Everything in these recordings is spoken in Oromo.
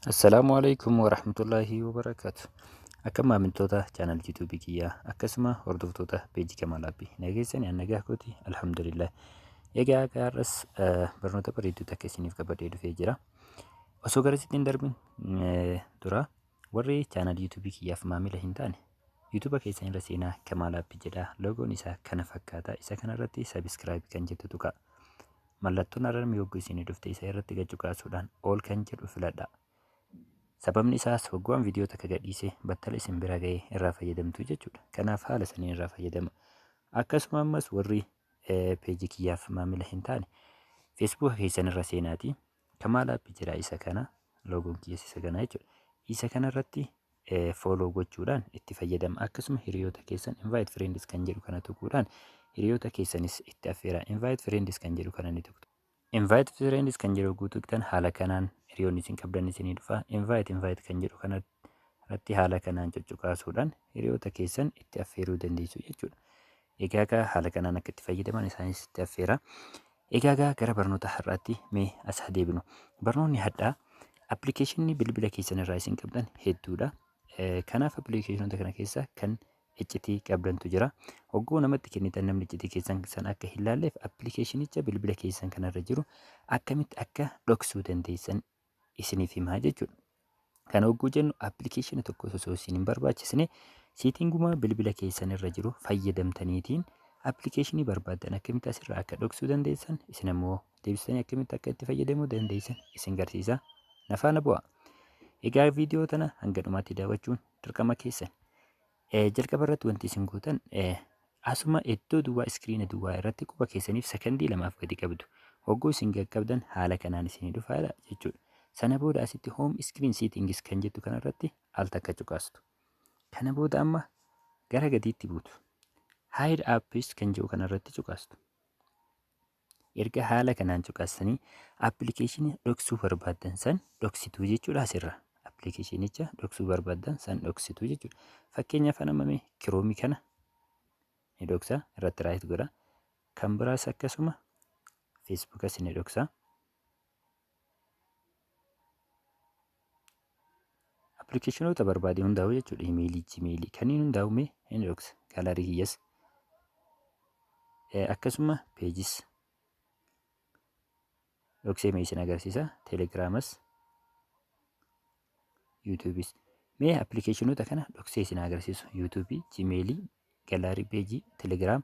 Assalaamu alaikum warahmatullaahi wabarakaatu. Akka maamiltoota chaanal YouTube kiyyaa akkasuma hordoftoota peejii Kamaal Abbi nageessani an nagaa kooti alhamdulillah. Egaa akka har'as eh, barnoota bareedduu takka isiniif qabadhee dhufee jira. Osoo gara isinitti hin darbin eh, dura Warri chaanal YouTube kiyyaaf maamila hin taane YouTube keessan irra seenaa Kamaal App jedha. Loogoon isaa kana fakkaata. Isa kana irratti subscribe kan jettu tuqa. Mallattoon ararmi yogguu isinii dhufte isa irratti gacuqaasuudhaan ol kan jedhu filadha. Sababni isaas hogguwaan viidiyoo takka gadhiise battala isin bira ga'ee irraa fayyadamtu jechuudha. Kanaaf haala saniin irraa fayyadama. Akkasuma ammas warri peejii kiyyaaf maamila hin taane feesbuuka keessan irra seenaati. Kamaal app jira isa kana loogoon kiyyas isa kana jechuudha. Isa kana irratti follow gochuudhaan itti fayyadama. Akkasuma hiriyoota keessan invite friends kan jedhu kana tuquudhaan hiriyoota keessanis itti affeera. Invite friends kan jedhu kana ni tuqtu. Invite friends kan jedhu guutuu tuqtan haala kanaan hiriyoonni isin qabdan isinii dhufa. Invite invite kan jedhu kana irratti haala kanaan cuccuqaasuudhaan hiriyoota keessan itti affeeruu dandeessu jechuudha. Egaa egaa haala kanaan akka itti fayyadaman isaanis itti affeera. Egaa gaa gara barnoota har'aatti mee as haa deebinu. Barnoonni hadhaa appilikeeshinii bilbila keessan irraa isin qabdan hedduudha. Eh, Kanaaf appilikeeshinoota kana keessa kan iccitii qabdantu jira. Hogguu namatti kennitan namni iccitii keessan san akka hin laalleef appilikeeshinicha bilbila keessan kanarra jiru akkamitti akka dhoksuu dandeessan isiniif himaa jechuudha. Kana hogguu jennu appilikeeshinii tokko osoo isin hin barbaachisne seetinguma bilbila keessan irra jiru fayyadamtaniitiin appilikeeshinii barbaaddan akkamitti asirraa akka dhoksuu dandeessan isin ammoo deebistanii akkamitti akka itti fayyadamuu dandeessan isin garsiisa nafaana bu'a. Egaa viidiyoo tana hanga dhumaatti daawwachuun dirqama keessan. Eh, jalqaba irratti wanti isin gootan eh, asuma iddoo duwwaa iskiriina duwwaa irratti quba keessaniif sekondii lamaaf gadi qabdu. Hogguu isin qaqqabdan haala kanaan isinii dhufa jedha jechuudha. Sana booda asitti home screen settings kan jettu kanarratti al takka cuqaastu. Kana booda amma gara gadiitti buutu. Hide apps kan jedhu kanarratti cuqaastu. Erga haala kanaan cuqaastanii appilikeeshinii dhoksuu barbaaddan san dhoksituu jechuudha asirra. Appilikeeshinicha dhoksuu barbaaddan san dhoksituu jechuudha. Fakkeenyaaf nama mee kiroomii kana ni dhoksa irratti raayit godha. Kan biraas akkasuma feesbuukas ni dhoksa. Appilikeeshinoota barbaade hundaa'u jechuudha. Imeelii, jimeelii kanneen hundaa'u mee inbox gaalarii kiyyas akkasuma peejis dhoksee mee isin agarsiisa teelegiraamas yuutuubis mee appilikeeshinoota kana dhoksee isin agarsiisu yuutuubii jimeelii galaarii peejii telegiraam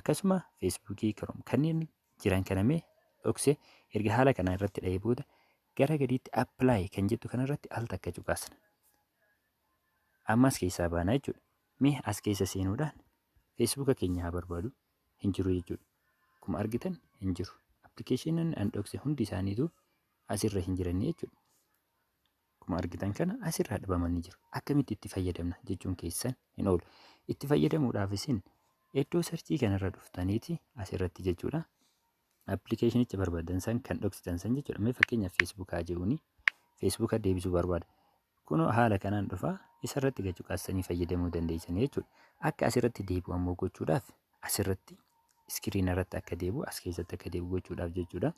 akkasuma feesbuukii kiroom kanneen jiran kana mee dhokse erga haala kana irratti dha'ee booda gara gadiitti appilaayi kan jettu kana irratti al takka cuqaasna. Ammas keessaa baana jechuudha. Mee as keessa seenuudhaan feesbuuka keenya haa barbaadu hin jiru jechuudha. Akkuma argitan hin jiru. Appilikeeshiniin an dhokse hundi isaaniitu asirra hin jiran jechuudha. Akkuma argitan kana asirraa dhabamanii jiru. Akkamitti itti fayyadamna jechuun keessan hin oolu. Itti fayyadamuudhaaf isin iddoo sarchii kanarra dhuftaniiti asirratti jechuudha. Appilikeeshinicha barbaadan san kan dhoksitan san jechuudha. Mee fakkeenyaaf feesbuukaa jechuuni. Feesbuuka deebisuu barbaada. Kunoo haala kanaan dhufa isarratti gachuqaassanii fayyadamuu dandeessan jechuudha. Akka asirratti deebi'u ammoo gochuudhaaf asirratti iskiriina irratti akka deebi'u as keessatti akka deebi'u gochuudhaaf jechuudha.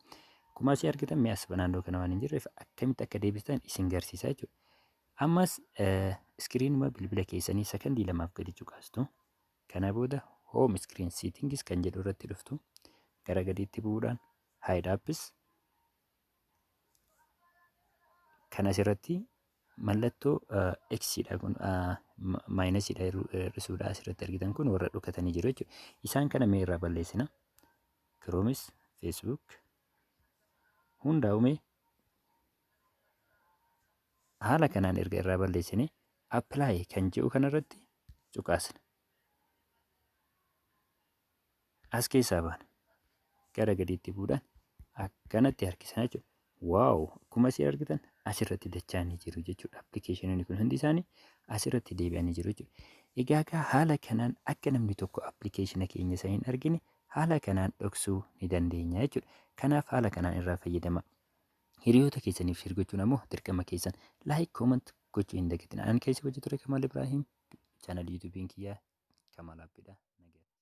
Akkuma asii argitan mee as naannoo kana waan hin jirreef akkamitti akka deebistan isin garsiisa jechuudha. Ammas iskiriinuma bilbila keessanii sakandii lamaaf gadi cuqaastu. Kana booda home screen settings kan jedhu irratti dhuftu gara gadiitti bu'uudhaan hide apps Kan asirratti mallattoo x dha kun maayinasii dha hir'isuu dha asirratti argitan kun warra dhokatanii jiru jechuudha. Isaan kana mee irraa balleessina. Kiroomis, Feesbuuk hundaa uumee haala kanaan erga irraa balleessine appilaayi kan jedhu kanarratti cuqaasna. as keessaa baana. Gara gadiitti buudhaan akkanatti harkisana jechuudha. Waaw! Akkuma isin argitan asirratti dachaanii jiru jechuudha. Appilikeeshinoonni kun hundi isaanii asirratti deebi'anii jiru jechuudha. Egaa egaa haala kanaan akka namni tokko appilikeeshina keenya isa hin argine haala kanaan dhoksuu ni dandeenya jechuudha. Kanaaf haala kanaan irraa fayyadama. Hiriyoota keessaniif shir gochuun ammoo dirqama keessan. Laayik, kooment gochuu hin dagatina. Ani keessa hojii ture Kamaal Ibraahiim. Chaanal yuutuubiin kiyyaa Kamaal Abbiidha.